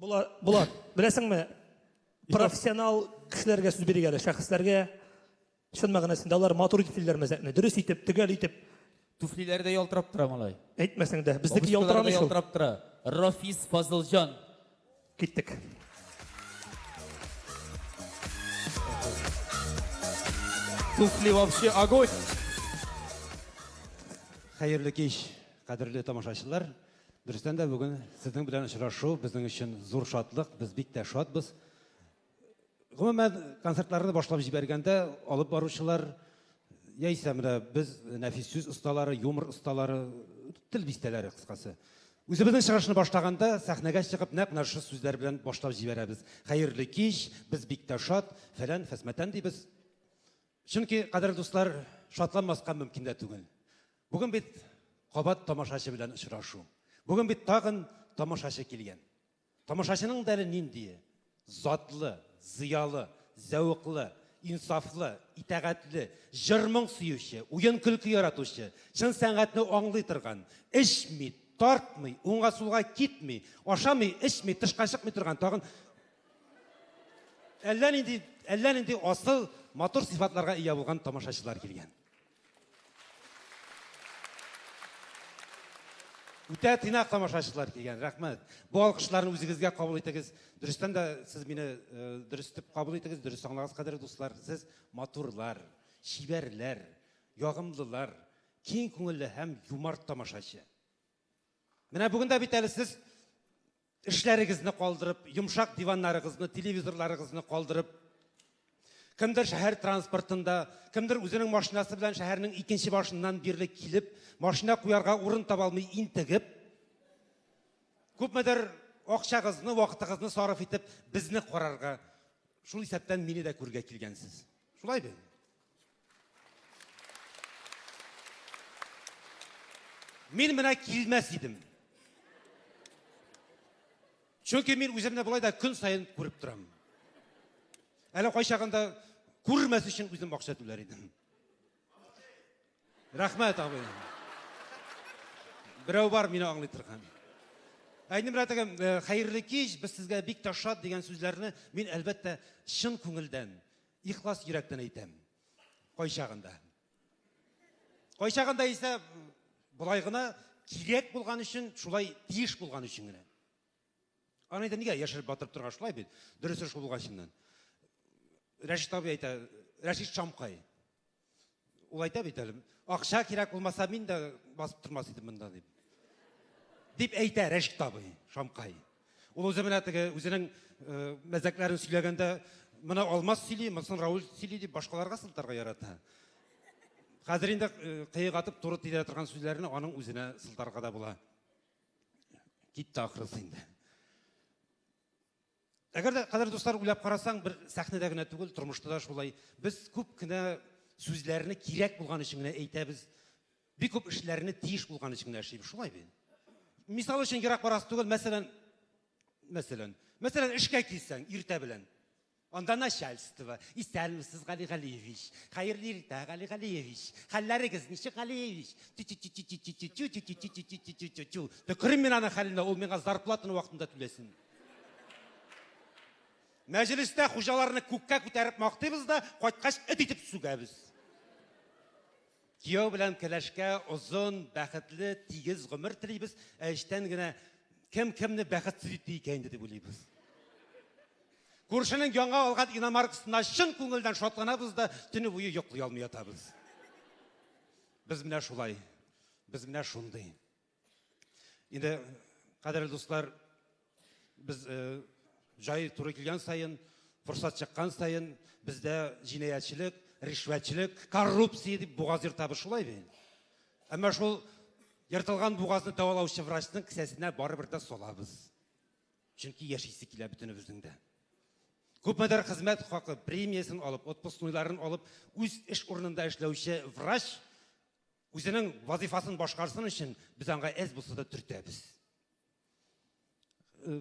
Булат, Булат, беләсеңме, профессионал кешеләргә сүз бирик әле, шәхесләргә чын мәгънәсендә алар матур итеп сөйлиләр мәзәкне, дөрес итеп, төгәл итеп. Туфлиләре дә ялтырап тора малай. Әйтмәсәң дә, безнеке ялтырамый шул. Ялтырап тора. Рафис Фазылҗан. Киттек. Туфли вообще огонь. Хәерле кич, кадерле тамашачылар. Дөрестән дә бүген сезнең белән очрашу безнең өчен зур шатлык, без бик тә шатбыз. Гомумән, концертларны башлап җибәргәндә алып баручылар яисә менә без нәфис сүз осталары, юмор осталары, тел бистәләре кыскасы. Үзебезнең чыгышны башлаганда сәхнәгә чыгып нәкъ менә шушы сүзләр белән башлап җибәрәбез. Хәерле кич, без бик тә шат, фәлән, фәсмәтән дибез. Чөнки, кадерле дуслар, шатланмаска мөмкин дә түгел. Бүген бит кабат тамашачы белән очрашу. Бүген бит тагын тамашачы килгән. Тамашачының да әле ниндие? Затлы, зыялы, зәвыклы, инсафлы, итәгатьле, җыр-моң сөюче, уен-көлке яратучы, чын сәнгатьне аңлый торган, эчми, тартмый, уңга-сулга китми, ашамый, эчми, тышка чыкмый торган тагын әллә нинди әллә нинди асыл матур сыйфатларга ия булган тамашачылар килгән. Үтә тыйнак тамашачылар килгән, рәхмәт. Бу алкышларны үзегезгә кабул итегез. Дөрестән дә сез мине э, дөрес дип кабул итегез, дөрес аңлагыз, кадерле дуслар. Сез матурлар, чибәрләр, ягымлылар, киң күңелле һәм юмарт тамашачы. Менә бүген дә бит әле сез Эшләрегезне калдырып, йомшак диваннарыгызны, телевизорларыгызны калдырып, кемдер шәһәр транспортында, кемдер үзенең машинасы белән шәһәрнең икенче башыннан бирле килеп, машина куярга урын таба алмый интегеп, күпмедер акчагызны, вакытыгызны сарыф итеп, безне карарга, шул исәптән мине дә күрергә килгәнсез. Шулай бит? Мин менә килмәс идем. Чөнки мин үземне болай да көн саен күреп торам. Әле кайчагында күрмәс өчен үзем акча түләр идем. Рәхмәт, абый. Берәү бар мине аңлый торган. Әйнем рәтегем, э, хәерле кич, без сезгә бик ташат дигән сүзләрне мин әлбәттә чын күңелдән Ихлас йөрәктән әйтәм. Кайчагында. Кайчагында исә болай гына кирәк булган өчен, шулай тиеш булган өчен генә. Аны әйтә нигә яшереп батырып торга шулай бит. Дөресе шул булган чыннан. Рәшит абый әйтә, Рәшит Шамкай. Ул әйтә бит әле, акча кирәк булмаса, мин дә басып тормас идем монда дип. Дип әйтә Рәшит табый, Шамкай. Ул үзе менә теге үзенең э, мәзәкләрен сөйләгәндә, менә Алмаз сөйли, монысын Рауль сөйли дип башкаларга сылтарга ярата. Хәзер инде э, кыек атып туры тидерә торган сүзләрне аның үзенә сылтарга да була. Китте ахрысы инде. Әгәр дә, кадерле дуслар, уйлап карасаң, бер сәхнәдә генә түгел, тормышта да шулай. Без күп кенә сүзләрне кирәк булган өчен генә әйтәбез. Бик күп эшләрне тиеш булган өчен генә эшлибез. Шулай бит. Мисал өчен ерак барасы түгел, мәсәлән, мәсәлән, мәсәлән, эшкә килсәң иртә белән. Анда начальство, исәнмесез, Гали Галиевич. Хәерле иртә, Гали Галиевич. Хәлләрегез ничек, Галиевич? Төкерим мин аны хәленә, ул миңа зарплатаны вакытында түләсен. Мәҗлестә хуҗаларны күккә күтәреп мактыйбыз да, кайткач эт итеп сүгәбез. Кияү белән кәләшкә озын, бәхетле, тигез гомер телибез, ә эчтән генә кем кемне бәхетсез итте икән инде дип уйлыйбыз. Күршенең яңа алган иномаркасына чын күңелдән шатланабыз да, төне буе йоклый алмый ятабыз. Без менә шулай. Без менә шундый. Инде, кадерле дуслар, без э, җай туры килгән саен, форсат чыккан саен, бездә җинаятьчелек, ришвәтчелек, коррупция дип бугаз ертабыз шулай бит. Әмма шул ертылган бугазны дәвалаучы врачның кесәсенә барыбер дә салабыз. Чөнки яшисе килә бөтенебезнең дә. Күпмедер хезмәт хакы премиясен алып, отпускнойларын алып, үз эш урынында эшләүче врач Үзенең вазифасын башкарсын өчен без аңа әз булса да төртәбез. Э,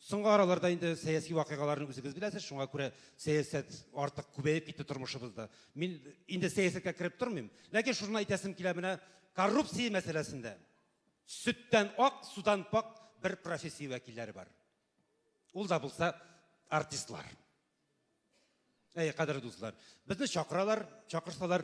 соңгы араларда инде сәяси вакыйгаларны үзегез беләсез, шуңа күрә сәясәт артык күбәеп китте тормышыбызда. Мин инде сәясәткә кереп тормыйм, ләкин шуны әйтәсем килә менә коррупция мәсьәләсендә сөттән ак, судан пак бер профессия вәкилләре бар. Ул да булса артистлар. Әй, кадерле дуслар, безне чакыралар, чакырсалар,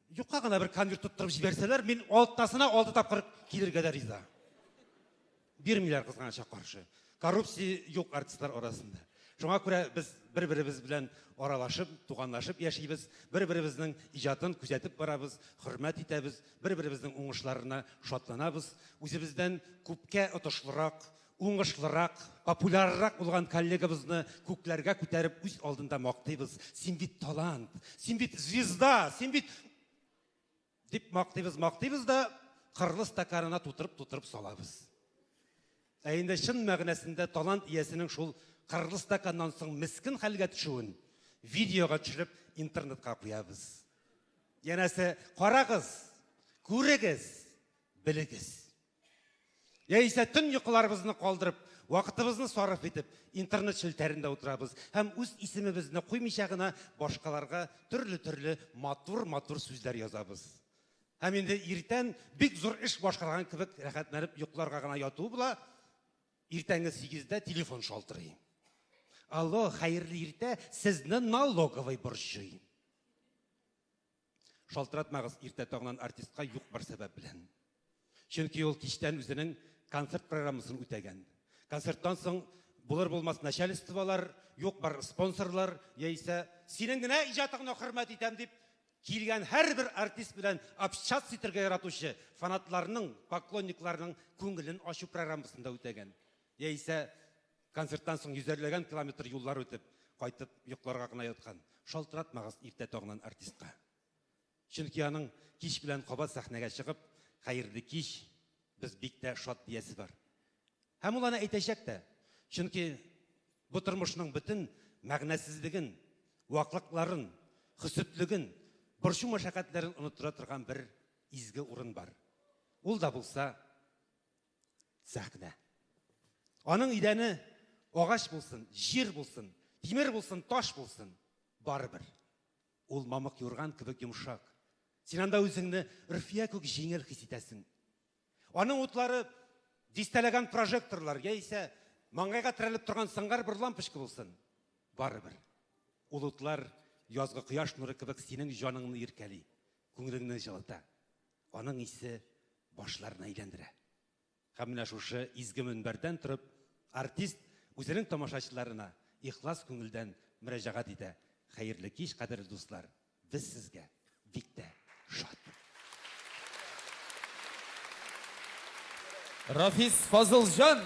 Юкка гына бер конверт тоттырып җибәрсәләр, мин алтысына алты тапкыр килергә дә риза. Бирмиләр кызганычка каршы. Коррупция юк артистлар арасында. Шуңа күрә без бер-беребез белән аралашып, туганлашып яшибез, бер-беребезнең иҗатын күзәтеп барабыз, хөрмәт итәбез, бер-беребезнең уңышларына шатланабыз. Үзебездән күпкә отышлырак, Уңышлырак, популяррак булган коллегабызны күкләргә күтәреп үз алдында мактыйбыз. Син бит талант, син бит звезда, син бит дип мактыйбыз, мактыйбыз да кырлы стаканына тутырып-тутырып салабыз. Ә инде чын мәгънәсендә талант иясенең шул кырлы стаканнан соң мискен хәлгә төшүен видеога төшереп интернетка куябыз. Янәсе, карагыз, күрегез, белегез. Яисә төн йокыларыбызны калдырып, вакытыбызны сарыф итеп, интернет челтәрендә утырабыз һәм үз исемебезне куймыйча гына башкаларга төрле-төрле матур-матур сүзләр язабыз. Һәм инде иртән бик зур эш башкарган кебек рәхәтләнеп йокларга гына яту була. Иртәнге 8-дә телефон шалтырый. Алло, хәерле иртә, сезне налоговый борчый. Шалтыратмагыз иртә таңнан артистка юк бер сәбәп белән. Чөнки ул кичтән үзенең концерт программасын үтәгән. Концерттан соң булыр-булмас начальстволар, юк бар спонсорлар яисә синең генә иҗатыңны хөрмәт итәм дип килгән һәрбер артист белән общаться итәргә яратучы фанатларның, поклонникларның күңелен ачу программасын да үтәгән. Яисә Концерттан соң йөзәрләгән километр юллар үтеп, кайтып йокларга гына яткан. Шалтыратмагыз иртә таңнан артистка. Чөнки аның кич белән кабат сәхнәгә чыгып, Хәерле кич, без бик тә шат диясе бар. Һәм ул аны әйтәчәк тә. Чөнки бу тормышның бөтен мәгънәсезлеген, ваклыкларын, хөсетлеген, борчу-мәшәкатьләрен оныттыра торган бер изге урын бар. Ул да булса сәхнә. Аның идәне агач булсын, җир булсын, тимер булсын, таш булсын, барыбер. Ул мамык юрган кебек йомшак. Син анда үзеңне Рфия күк җиңел хис итәсең. Аның утлары дистәләгән прожекторлар яисә маңгайга терәлеп торган сыңгар бер лампочка булсын, барыбер. Ул утлар язгы кояш нуры кебек синең җаныңны иркәли, күңелеңне җылыта. Аның исе башларны әйләндерә. Һәм менә шушы изге мөнбәрдән торып, артист үзенең тамашачыларына ихлас күңелдән мөрәҗәгать итә, Хәерле кич, кадерле дуслар, без сезгә бик тә шат. Рафис Фазылҗан!